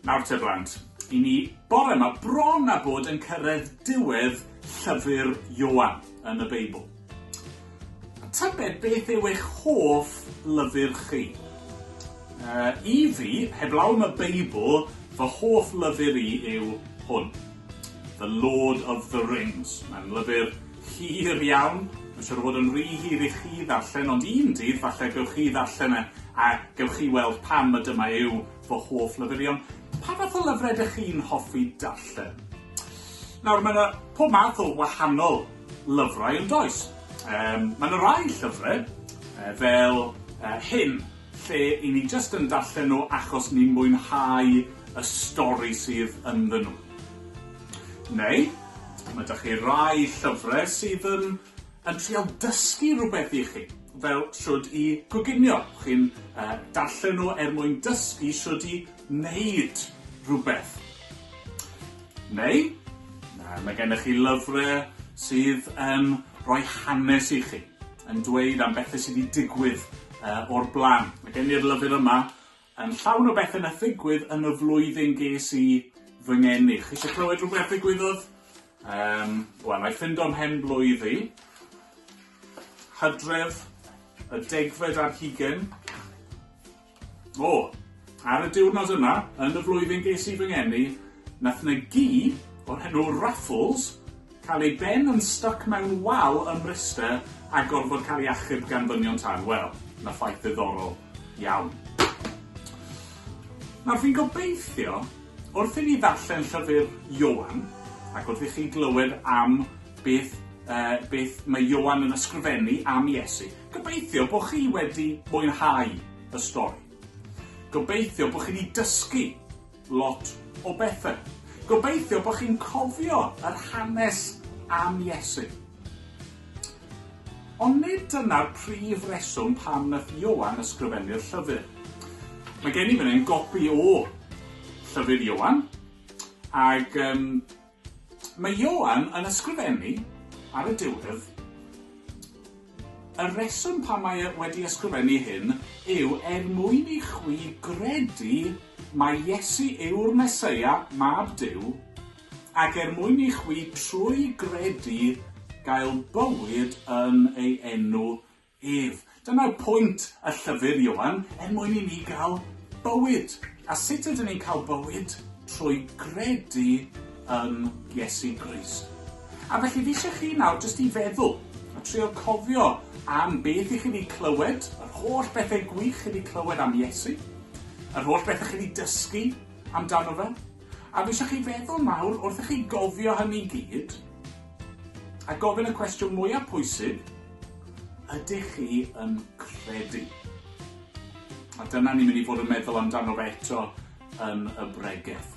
Nawr te blant, i ni bore yma bron a bod yn cyrraedd diwedd llyfr Ioan yn y Beibl. A tybed beth yw eich hoff lyfr chi? Uh, I fi, heblaw am y Beibl, fy hoff lyfr i yw hwn. The Lord of the Rings. Mae'n lyfr hir iawn, mae'n siŵr o fod yn rhy hir i chi ddarllen, ond un dydd falle gewch chi ddarllen e a gewch chi weld pam y dyma yw fy hoff lyfr i, ond pa fath o lyfrau ydych chi'n hoffi darllen? Nawr, mae yna pob math o wahanol lyfrau yn does. Um, mae yna rai llyfrau, uh, fel uh, hyn, lle i ni jyst yn darllen nhw achos ni'n mwynhau y stori sydd ynddyn nhw. Neu, ma' 'da chi rai llyfre sydd yn yn trial dysgu rhywbeth i chi, fel shwd i goginio. Chi'n yy darllen nhw er mwyn dysgu shwd i neud rhywbeth. Neu, mae gennych chi lyfrau sydd yn rhoi hanes i chi, yn dweud am bethau sydd wedi digwydd o'r blaen. Mae gen i'r lyfr yma yn llawn o bethau na ddigwydd yn y flwyddyn ges i fy ngeni. Chi eisiau clywed rhywbeth ddigwyddodd? Um, Wel, na i ffind o'm hen blwydd i. Hydref, y degfed ar hugen, O! Ar y diwrnod yna yn y flwyddyn ges i fy ngeni, nath 'na gi o'r enw Raffles cael ei ben yn styc mewn wal ym Mryste a gorfod cael ei achub gan ddynion tân. Wel, 'na ffaith ddiddorol iawn. Nawr, fi'n gobeithio, wrth i ni ddarllen llyfr Ioan, ac wrth i chi glywed am beth yy beth mae Ioan yn ysgrifennu am Iesu, Gobeithio bod chi wedi mwynhau y stori. Gobeithio bod chi wedi dysgu lot o bethau. Gobeithio bod chi'n cofio yr hanes am Iesu. Ond nid dyna'r prif reswm pam nath Ioan ysgrifennu'r llyfr. Mae gen i fan hyn gopi o llyfr Ioan, ac um, Mae Ioan yn ysgrifennu, ar y diwedd, Y rheswm pam mae e wedi ysgrifennu hyn yw er mwyn i chwi gredu mai Iesu yw'r Meseia, Mab Duw, ac er mwyn i chwi trwy gredu gael bywyd yn ei enw Ef. Dyna'r pwynt y llyfr, Ioan, er mwyn i ni gael bywyd. A sut ydyn ni'n cael bywyd? Trwy gredu yn Iesu Grist. A felly fi eisiau chi nawr jyst i feddwl a trio cofio am beth i chi wedi clywed, yr holl bethau gwych chi wedi clywed am Iesu, yr holl bethau chi wedi dysgu amdano fe. A fi eisiau chi feddwl nawr, wrth i chi gofio hynny gyd, A gofyn y cwestiwn mwyaf pwysig, ydych chi yn credu? A dyna ni'n mynd i fod yn meddwl amdano fe eto yn y bregeth.